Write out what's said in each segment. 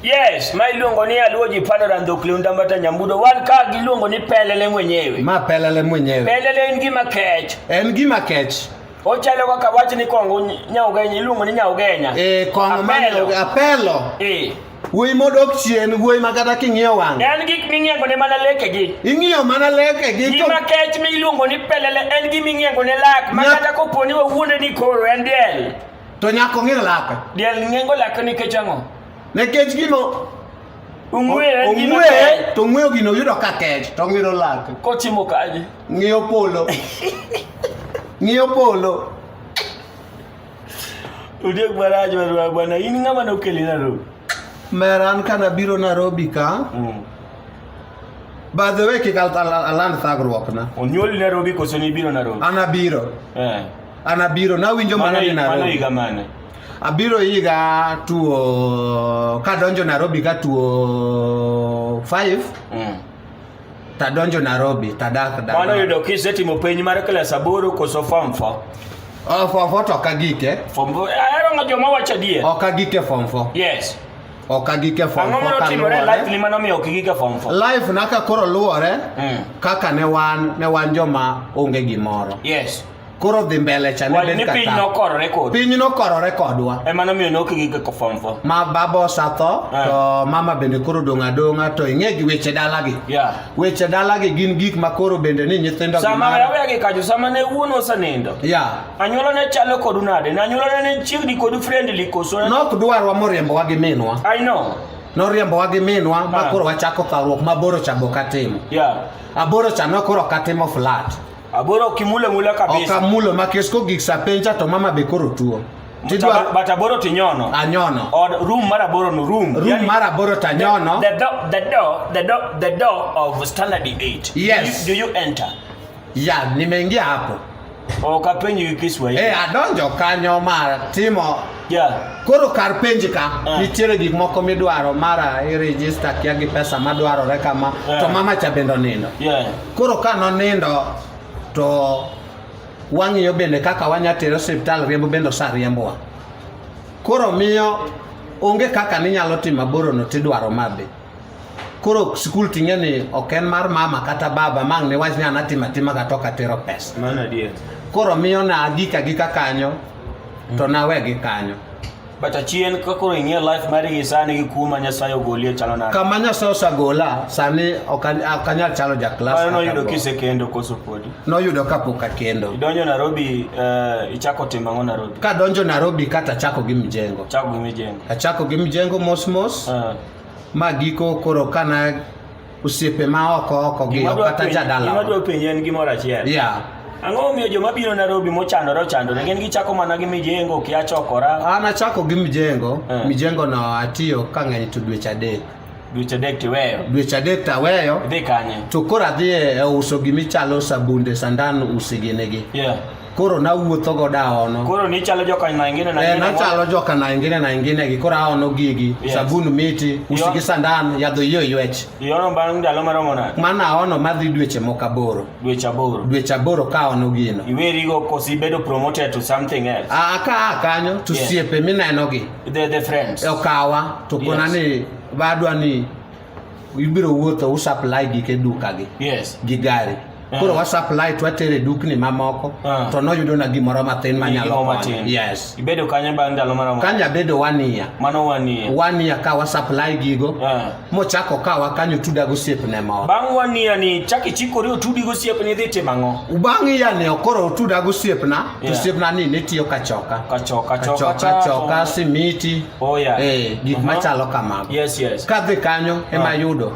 Yes, ma iluongo ni aluo ji palo rando kliunda mbata nyambudo wan ka giluongo ni pelele mwenyewe. Ma pelele mwenyewe. Pelele en gima kech. En gima kech. Ochalo kaka wach ni kongo nyaugenya iluongo ni nyaugenya. Eh, kongo ma nyaugenya apelo. Eh. Wuoyi modok chien, wuoyi ma kata king'iyo wang'. En gik ming'iengo ne mana lekegi. Ing'iyo mana lekegi. Gima kech miluongo ni pelele en gima ing'iengo ne lak ma kata kopo ni wawuonde ni koro en diel. To nyako ng'ir lake. Diel ng'engo lake nikech ang'o? Nikech gino ong'we to ong'weyo gino yudo ka kech to ng'iro lake. Kotimo kaje. Ng'iyo polo. Ng'iyo polo. Udiek marach marwa bwana, in ng'ama nokeli Nairobi? Mer an ka nabiro Nairobi ka. Mm. By the way, kik aland thagruokna. Onyuoli Nairobi koso nibiro Nairobi? An abiro. Eh. An abiro nawinjo mana ni Nairobi. Mano higa mane? Abiro higa tuo kadonjo Nairobi ka tuo 5. Mm. Tadonjo Nairobi, tadak da. Mano yudo kisetimo penj mar klas aboro koso form 4. Oh, form 4 to ok agike. Form 4. Ahero ng'a joma wacho adier. Ok agike form 4. Yes. Ok agike form 4. Ang'o mano timore life ni mano miyo ok igike form 4? Life na ka koro luwore mm. kaka ne wan ne wan joma onge gimoro. Yes. koro dhi mbele cha ne ni piny nokorore kodwa piny nokorore kodwa ema nomiyo nok gi ko form 4 ma baba osatho eh. to mama bende koro dong adonga to ing'e gi weche dala gi yeah. weche dala gi gin gik ma koro bende ni nyithindo sama aweya gi kajo sama ne wuon osenindo yeah. anyuola ne chalo kodu nade na anyuola ne chiegni kodu friendly koso nok dwarwa moriembowa gi minwa i know noriembowa gi minwa ma ah. koro wachako thawruok ma boro cha bok atimo yeah. aboro cha nokoro ok atimo flat Aboro kimule mula kabisa. Okamule makesko gik sapenja to mama be koro tuo. Tidwa but aboro tinyono. Anyono. Or room mar aboro no room. Room yani, mar aboro tanyono. The, the door the door the door the door of standard 8. Yes. Do you, do you enter? Yeah, nimeingia hapo. Okapenji gi Kiswahili. Eh, adonjo kanyo mar timo. Yeah. Koro kar penji ka uh. nitiere gik moko midwaro mara i register kia gi pesa madwarore kama uh. to mama cha bendo nindo. Yeah. Koro ka nonindo to wang'iyo bende kaka wanya tere osiptal riembo bende osariembowa. Koro miyo onge kaka ninyalo timo aborono tidwaro madhi. Koro skul ting'e ni ok en mar mama kata baba mang' niwach ni an atimo atima kata ok atero pesa. Koro miyo na agika gika kanyo to nawe gi kanyo. But achien kakoro ing'e life mari gi sani gi kuma Nyasaye ogolie chalo nade? Kama Nyasaye osagola sani ok an- ok anyal chalo ja klas. Mano noyudo kaka go. kisekendo koso podi? Noyudo kapok akendo. Idonjo Nairobi eh, ichako timo ang'o Nairobi? Kadonjo Nairobi kata chako gi mjengo. Chako gi mijengo. Achako gi mjengo mos mos Ah, ma giko koro kana osiepe ma oko oko gi Gima dwa kata penjo- jadala gima dwa penjo en gimoro achiel yeah ang'o momiyo joma biro nairobi mochandore ochandore gin gichako mana gi mijengo kia chokora an achako gi mijengo Eh. mijengo no atiyo kang'eny to dweche adek dweche adek tiweyo dweche adek taweyo idhi kanye to koro adhi e e uso gimichalo sabunde sandan usiginigi yeah koro nawuotho go daono koro nichalo joka na ingine na eh, ingine nachalo joka na ingine na ingine gi koro aono gigi yes. sabun miti usi gi sandan yadho iyo ywech iono bang' ndalo maromo nade mana aono madhi dweche moko aboro dweche aboro dweche aboro ka aono gino iweri go kosi bedo promoted to something else ah, a ka kanyo to yes. siepe mineno gi the the friends okawa to kona yes. ni badwa ni ibiro wuotho usupply gike dukagi yes. gi gari uh-huh. koro wasupply twatere dukni mamoko uh-huh. to noyudo na gimoro mathin manyalo yes. ibedo kanye bang' ndalo maromo kanye abedo wania mano wania wania ka wasupply gigo uh-huh. mochako kawa kanyo tuda gosiepne moro bang' wania ni chak ichikori otudi gosiepni idhi timo ang'o bang' iya ni koro otuda gosiepna yeah. to siepna ni nitiyo kachoka kachoka choka choka, choka, choka, choka simiti Oh yeah. Eh, gik uh-huh. machalo kamago. Yes, yes. Kadhi kanyo uh-huh. ema yudo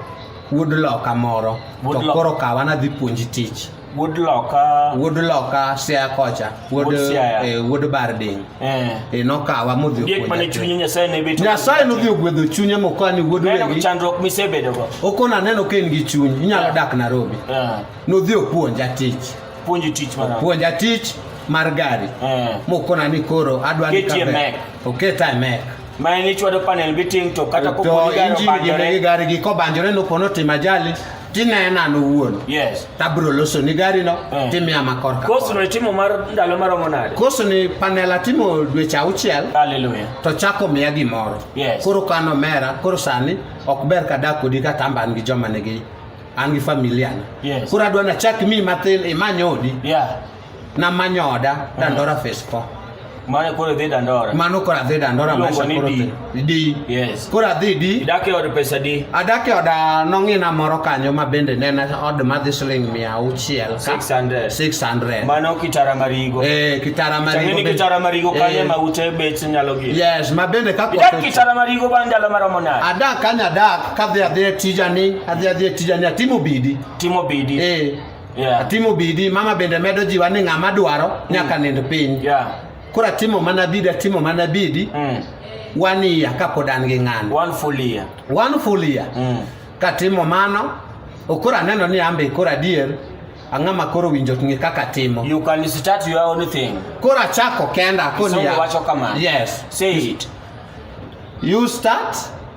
wuod loka moro to koro kawa nadhi puonji tich. Wuod loka. Wuod loka sia kocha. Wuod eh, wuod barding. Eh. E nokawa modhi puonja. Diek mane chunye Nyasaye ne beto. Nyasaye nodhi ogwedho chunye mokani wuod wegi. Neno chandruok misebedo go. Okona neno ka en gi chuny. Inyalo dak Nairobi. Eh. Nodhi opuonja tich. Puonji tich mana. Puonja tich mar gari. Eh. Mokona ni koro adwa ni kabe. Oket IMEC. Ma en ichwado panel beating to kata ko poni gari obanjore. To gari gi ko banjore no pono tim ajali tinena an owuon. Yes. Tabro loso ni gari no eh. timia makor ka. Koso ni timo mar ndalo maromo nade? Koso ni panel atimo dweche auchiel. Hallelujah. To chako miya gimoro. Yes. Koro kano mera, koro sani ok ber ka dak kodi ka tamba an gi joma nigi an gi familia. Yes. Koro adwa na chak mi mathin imany odi. Yeah. na manyoda dandora face 4 mane koro dhi dandora mano koro adhi dandora Iluongo maisha ni koro di. thi- di yes koro adhi di idak e od pesa di adak e oda nong'ina moro kanyo ma bende ne en od madhi siling mia auchiel ka- 600 600 mano kitara marigo eh kitara Chang'e marigo ni bende- kitara marigo kanye Eh, ma ute bech nyalo gi yes ma bende ka idak koth- kitara marigo bang' ndalo maromo nade adak kanya adak kadhi adhi e tijani adhi adhi e tijani atimo bidi timo bidi eh Yeah. Atimo bidi, mama bende medo jiwa ni ng'ama dwaro mm. nyaka nind piny. Yeah. Koro atimo mana bidi, atimo mana bidi. Mm. One year kapod an gi ng'ano. One full year. One full year. Mm. Katimo mano, okoro aneno ni ambe koro adier ang'ama koro winjo ng'e kaka timo you can start your own thing koro achako kenda koni wacho kama yes say it you start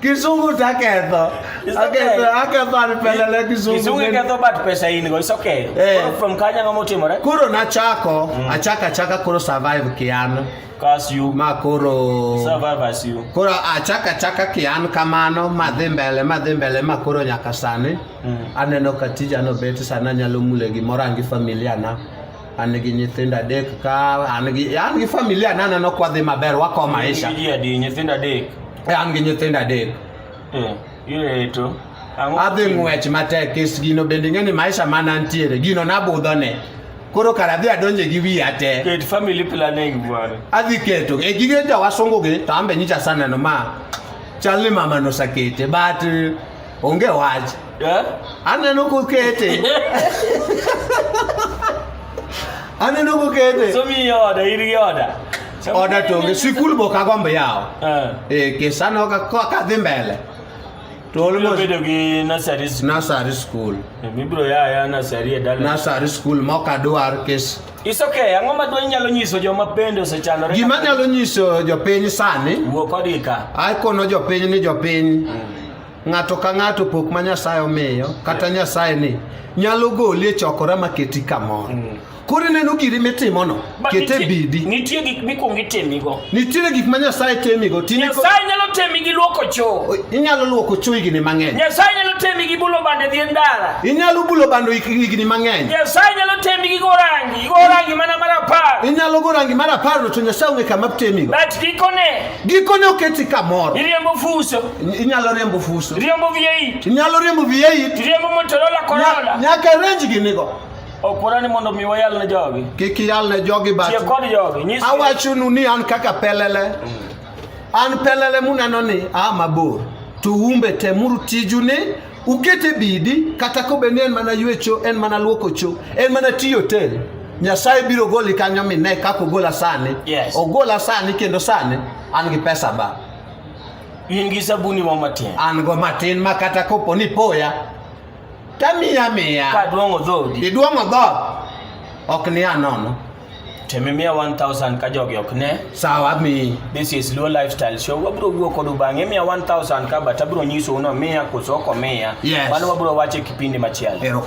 Kizungu taketho. It's okay. Aketho, aketho anipelele kizungu. Kizungu iketho but pesa in go. It's okay. Eh. Koro from Kanya ngamo timore. Koro nachako, mm. achaka achaka koro survive kiano. Cause you ma koro survive as you. Koro achaka achaka kian kamano madhi mbele madhi mbele ma koro nyaka sani. Mm. Aneno ka tija no bet sana nyalo mule gimoro angi familia na. an gi nyithindo adek ka an gi an gi familia na neno kwa dhi maber wako maisha ji adi nyithindo adek e an gi nyithindo adek eh ireto adhi ng'wech matek kes gino bende ing'e ni maisha ma nantiere gino nabudho ne koro kara adhi adonje gi wiya te ket family planning bwana adhi keto e gige jowasungu gi to ambe nyicha saneno ma chal ni mama nosakete but Onge wach. Yeah. Aneno kokete. Aneno kokete. So mi oda ir gi oda. Oda to onge sikul bo ka gombe yawo. Eh. Eh kesano ka ka dhi mbele. To almost bedo gi nursery school. Nursery school. Eh, mi bro ya ya nursery e dala. Nursery school mo ka dwar kes. It's okay. Ang'o ma dwany nyalo nyiso joma pende osechanore? Gima nyalo nyiso jopiny sani. Wuo kodika. Ai kono jopiny ni jopiny. Mm. ng'ato ka ng'ato pok ma Nyasaye omiyo kata Nyasaye ni nyalo goli e chokora ma keti kamoro mm. koro ineno giri mitimono kete bidi nitie gik mikwongo itemigo nitiere gik ma nyasaye temigo nyasaye nyalo temi gi luoko choo inyalo luoko choo higni mang'eny nyasaye nyalo temi gi bulo bande dhi ndara inyalo bulo bando higni mang'eny nyasaye nyalo temi gi gorangi gorangi mana mar apar inyalo gorangi mar apar to nyasaye ong'e kama temigo but gikone Gikone oketi kamoro. Iriembo fuso. Inyalo riembo fuso. Riembo V8. Inyalo riembo V8. Riembo Motorola Corolla. Nyaka range gi nigo. Okura ni mondo mi wayal ne jogi. Kik iyal ne jogi bat. Tie kod jogi. Nyis. Awachonu ni an kaka pelele. An pelele muneno ni a mabor. To umbe temuru tiju ni Ukete bidi kata kobe ni en mana ywecho, en mana luoko cho, en mana tiyo tel. Nyasaye biro goli kanyo mi ne kaka ogola sani. Yes. Ogola sani kendo sani an gi pesa ba. In gi sabuni mo matin. An go matin ma kata kopo ni poya. Tamiya miya. Ka duong'o dhodi. Iduong'o dhod. Ok ni anono. temimia 1000 ka jogi ok ne sawa mi this is low lifestyle show wabro wuo kodu bang'e miya 1000 ka but abro nyisou no miya koso ok omiya Yes. mano wabro wache kipindi machielo Erokamano.